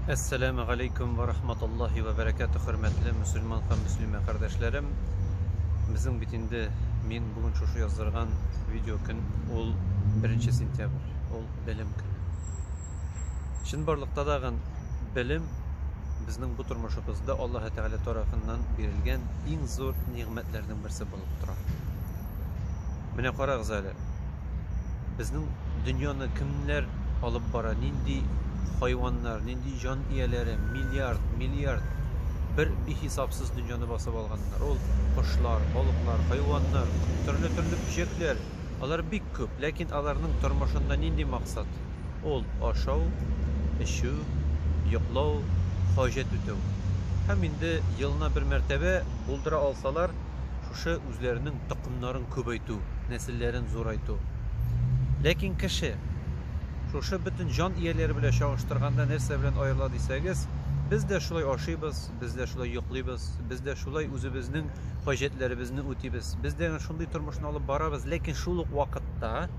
Әссәләмә галейкум ва рахматуллахи ва бәрәкәтү хөрмәтле мусульман һәм муслимә кардәшләрем. Безнең бит инде мин бүген шушы яздырган видео көн ул 1 сентябрь, ул белем көне. Чынбарлыкта дагы белем безнең бу тормышыбызда Аллаһ Тәгалә тарафыннан бирелгән иң зур нигъмәтләрнең берсе булып тора. Менә карагыз әле, Безнең дөньяны кемнәр алып бара, нинди хайваннар, нинди җан ияләре миллиард, миллиард бер бихисапсыз дөньяны басып алганнар. Ул кошлар, балыклар, хайваннар, төрле-төрле бөҗәкләр. Алар бик күп, ләкин аларның тормышында нинди максат? Ул ашау, эчү, йоклау, хаҗәт үтәү. Һәм инде елына бер мәртәбә булдыра алсалар, Яхшы үзләренең токымнарын күбәйтү, нәселләрен зурайту. Ләкин кеше, шушы бөтен җан ияләре белән чагыштырганда нәрсә белән аерыла дисәгез, без дә шулай ашыйбыз, без дә шулай йоклыйбыз, без дә шулай үзебезнең хаҗәтләребезне үтибез, без дә шундый тормышны алып барабыз, ләкин шул ук вакытта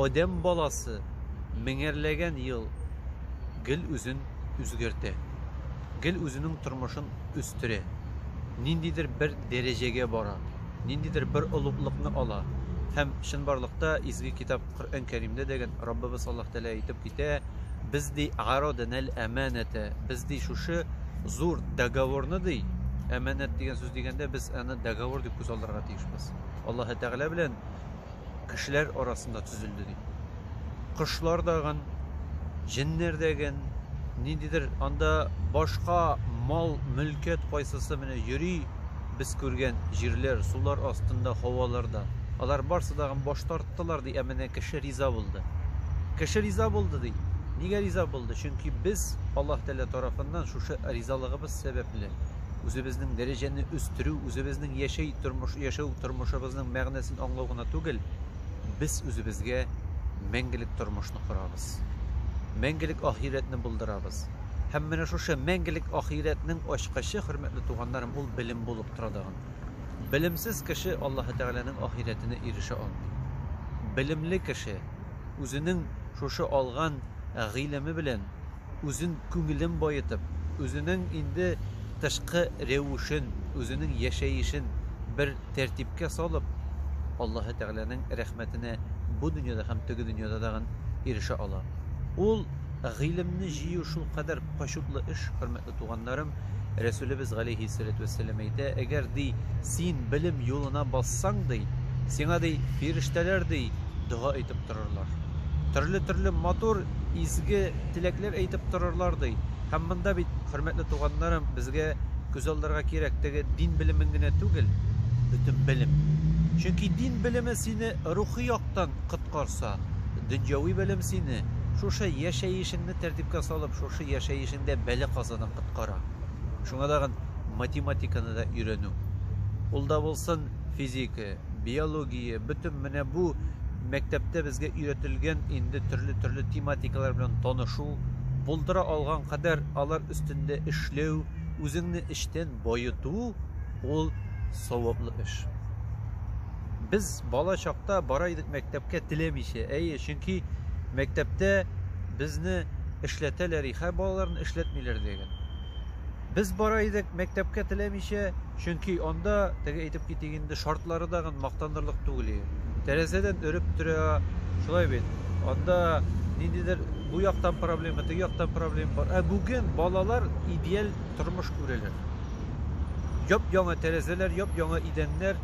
адәм баласы меңәрләгән ел гел үзен үзгәртә, гел үзенең тормышын үстерә, ниндидер бер дәрәҗәгә бара, ниндидер бер олуглыкны ала. Һәм чынбарлыкта Изге Китап Коръән Кәримдә дәген Раббыбыз Аллаһ Тәгалә әйтеп китә, Без ди гароденәл әманәтә, без ди шушы зур договорны ди, әманәт дигән сүз дигәндә без аны договор дип күз алырга тиешбез. Аллаһы Тәгалә белән кешеләр арасында төзелде ди. Кошлар да гын, җеннәр дә гын, ниндидер анда башка мал, мөлкәт кайсысы менә йөри без күргән җирләр, сулар астында, һаваларда. Алар барсы да гын баш тарттылар ди, ә менә кеше риза булды. Кеше риза булды ди. Нигә риза булды? Чөнки без Аллаһ Тәгалә тарафыннан шушы ризалыгыбыз сәбәпле үзебезнең дәрәҗәне үстерү, үзебезнең яшәй тормыш, яшәү тормышыбыз Язның мәгънәсен аңлау гына түгел, без үзебезгә мәңгелек тормышны корабыз. Мәңгелек ахирәтне булдырабыз. Һәм менә шушы мәңгелек ахирәтнең ачкычы, хөрмәтле туганнарым, ул белем булып тора тагын. Белемсез кеше Аллаһы Тәгаләнең ахирәтенә ирешә алмый. Белемле кеше үзенең шушы алган гыйлеме белән үзен күңелен баетып, үзенең инде тышкы рәвешен, үзенең яшәешен бер тәртипкә салып, Аллаһы Тәгаләнең рәхмәтенә бу дөньяда һәм теге дөньяда тагын ирешә ала. Ул, гыйлемне җыю шулкадәр почетлы эш, хөрмәтле туганнарым, Рәсүлебез галәйһиссәләтү вәссәлам әйтә, Әгәр, ди, син белем юлына бассаң, ди, сиңа, ди, фирештәләр, ди, дога әйтеп тора. торырлар. Төрле-төрле матур, изге теләкләр әйтеп торырлар, ди. Һәм монда бит, хөрмәтле туганнарым, безгә күз алдарга кирәк, теге дин белемен генә түгел, бөтен белем. Чөнки дин белеме сине рухи яктан коткарса, дөньяви белем сине, шушы яшәешеңне тәртипкә салып, шушы яшәешеңдә бәла-казадан коткара. Шуңа тагын математиканы да өйрәнү. Ул да булсын физика. биология, бөтен менә бу мәктәптә безгә өйрәтелгән инде төрле-төрле тематикалар белән танышу, булдыра алган кадәр алар өстендә эшләү, үзеңне эчтән баету ул саваплы эш. Без бала чакта бара идек мәктәпкә теләмичә, әйе, чөнки мәктәптә безне эшләтәләр, хәй балаларны эшләтмиләр дигән. Без бара идек мәктәпкә теләмичә, чөнки анда, теге әйтеп китик инде, шартлары дагын мактанырлык түгел иде. Тәрәзәдән өреп төрә, шулай бит. Анда ниндидер бу яктан проблема, теге яктан проблема бар. Ә бүген балалар идеаль тормыш күрәләр. Яп-яңа тәрәзәләр, яп-яңа идәннәр,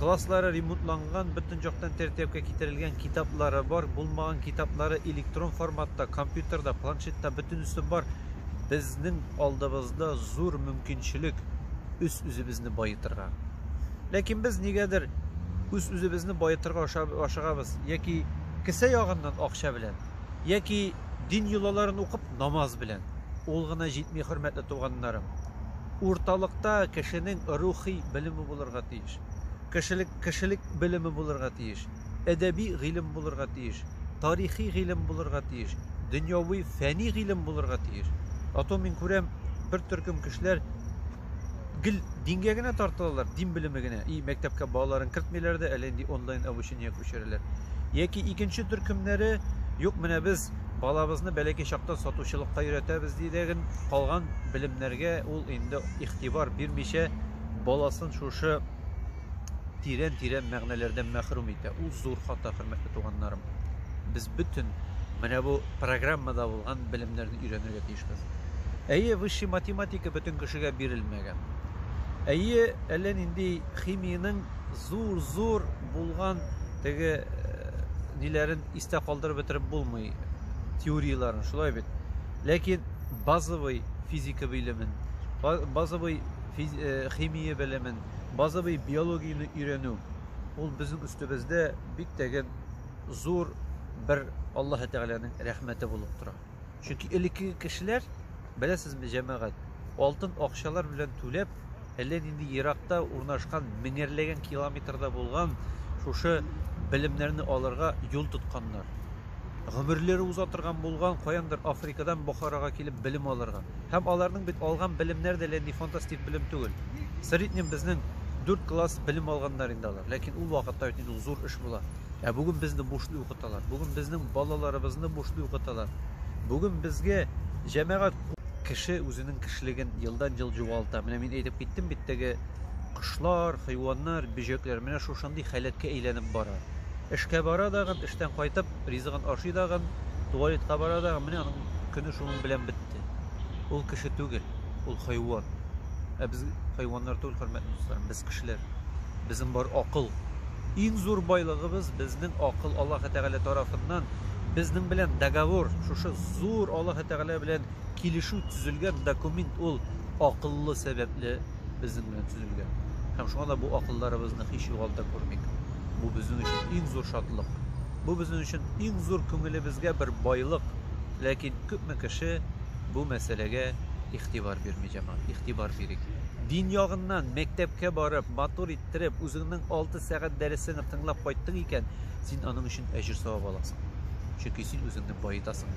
класслары ремонтланган, бөтен яктан тәртипкә китерелгән китаплары бар, булмаган китаплары электрон форматта, компьютерда, планшетта бөтенесе бар. безнең алдыбызда зур мөмкинчелек үз-үзебезне баетырга. Ләкин без нигәдер үз-үзебезне баетырга ашыгабыз, яки кесә ягыннан акча белән, яки дин йолаларын укып намаз белән. Ул гына җитми, хөрмәтле туганнарым. Урталыкта кешенең рухи белеме булырга тиеш. Кешелек кешелек белеме булырга тиеш. әдәби гыйлем булырга тиеш, тарихи гыйлем булырга тиеш, дөньяви фәни гыйлем булырга тиеш. А то мин күрәм, бер төркем кешеләр гел дингә генә тартылалар, дин белеме генә. И мәктәпкә балаларын кертмиләр дә, әле инде онлайн обучение күчерәләр. Яки икенче төркемнәре, юк, менә без балабызны бәләкәй чактан сатучылыкка өйрәтәбез дидеген, калган белемнәргә ул инде игътибар бирмичә, баласын шушы тирән-тирән мәгънәләрдән мәхрүм итә. Ул зур хата, хөрмәтле туганнарым. Без бөтен менә бу программада булган белемнәрне өйрәнергә тиешбез. Әйе, высший математика бөтен кешегә бирелмәгән. Әйе, әллә нинди химиянең зур-зур булган теге э, ниләрен истә калдырып бетереп булмый, теорияләрен, шулай бит. Ләкин базовый физика белемен, базовый э, химия белемен базовый биологияне өйрәнү, ул безнең өстебездә бик тәген зур бер Аллаһы Тәгаләнең рәхмәте булып тора. Чөнки элеккеге кешеләр, беләсезме, җәмәгать, алтын акчалар белән түләп, әллә нинди еракта урнашкан, меңәрләгән километрда булган шушы белемнәрне алырга юл тотканнар. Гомерләре уза торган булган, каяндыр Африкадан Бохарага килеп белем алырга. Һәм аларның бит алган белемнәр дә лә ни фантастик белем түгел. Среднем безнең дүрт класс белем алганнар инде алар. Ләкин ул вакытта бит инде ул зур эш була. Ә бүген безне бушлый укыталар. Бүген безнең балаларыбызны бушлый укыталар. Бүген безгә җәмәгать. Кеше үзенең кешелеген елдан-ел югалта. Менә мин әйтеп киттем бит, теге кошлар, хайваннар, бөҗәкләр менә шушындый халәткә әйләнеп бара. Эшкә бара дагын, эштән кайтып, Ризыгын ашый дагын, туалетка бара дагын, менә аның көне шуның белән бетте. Ул кеше түгел, ул хайван. Ә без хайваннар түгел, хөрмәтле дусларым, без кешеләр. Безнең бар акыл. Иң зур байлыгыбыз безнең акыл Аллаһы Тәгалә тарафыннан безнең белән договор, шушы зур Аллаһы Тәгалә белән килешү төзелгән документ ул акыллы сәбәпле безнең белән төзелгән. Һәм шуңа да бу акылларыбызны һич югалта күрмик. Бу безнең өчен иң зур шатлык. Бу безнең өчен иң зур күңелебезгә бер байлык. Ләкин күпме кеше бу мәсьәләгә игътибар бирми, җәмәгать. Игътибар бирик. Дин ягыннан, мәктәпкә барып, матур иттереп, үзеңнең алты сәгать дәресеңне тыңлап кайттың икән, син аның өчен әҗер-савап аласың. Чөнки син үзеңне баетасың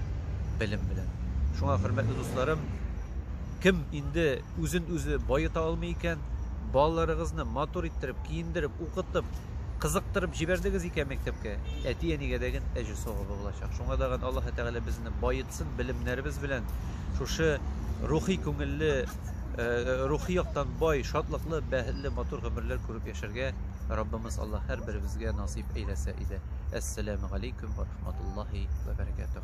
белем белән. Шуңа, хөрмәтле дусларым, кем инде үзен үзе баета алмый икән, балаларыгызны матур иттереп, киендереп, укытып, кызыктырып җибәрдегез икән мәктәпкә, әти-әнигә дә гел әҗер савабы булачак. Шуңа да гын Аллаһы Тәгалә безне баетсын белемнәребез белән, шушы рухи күңелле, рухи яктан бай, шатлыклы, бәһле, матур гомерләр күреп яшәргә Раббымыз Аллаһ һәрберебезгә насыйп әйләсә иде. Әссәламү галәйкүм ва рахматуллаһи ва бәрәкәтүһ.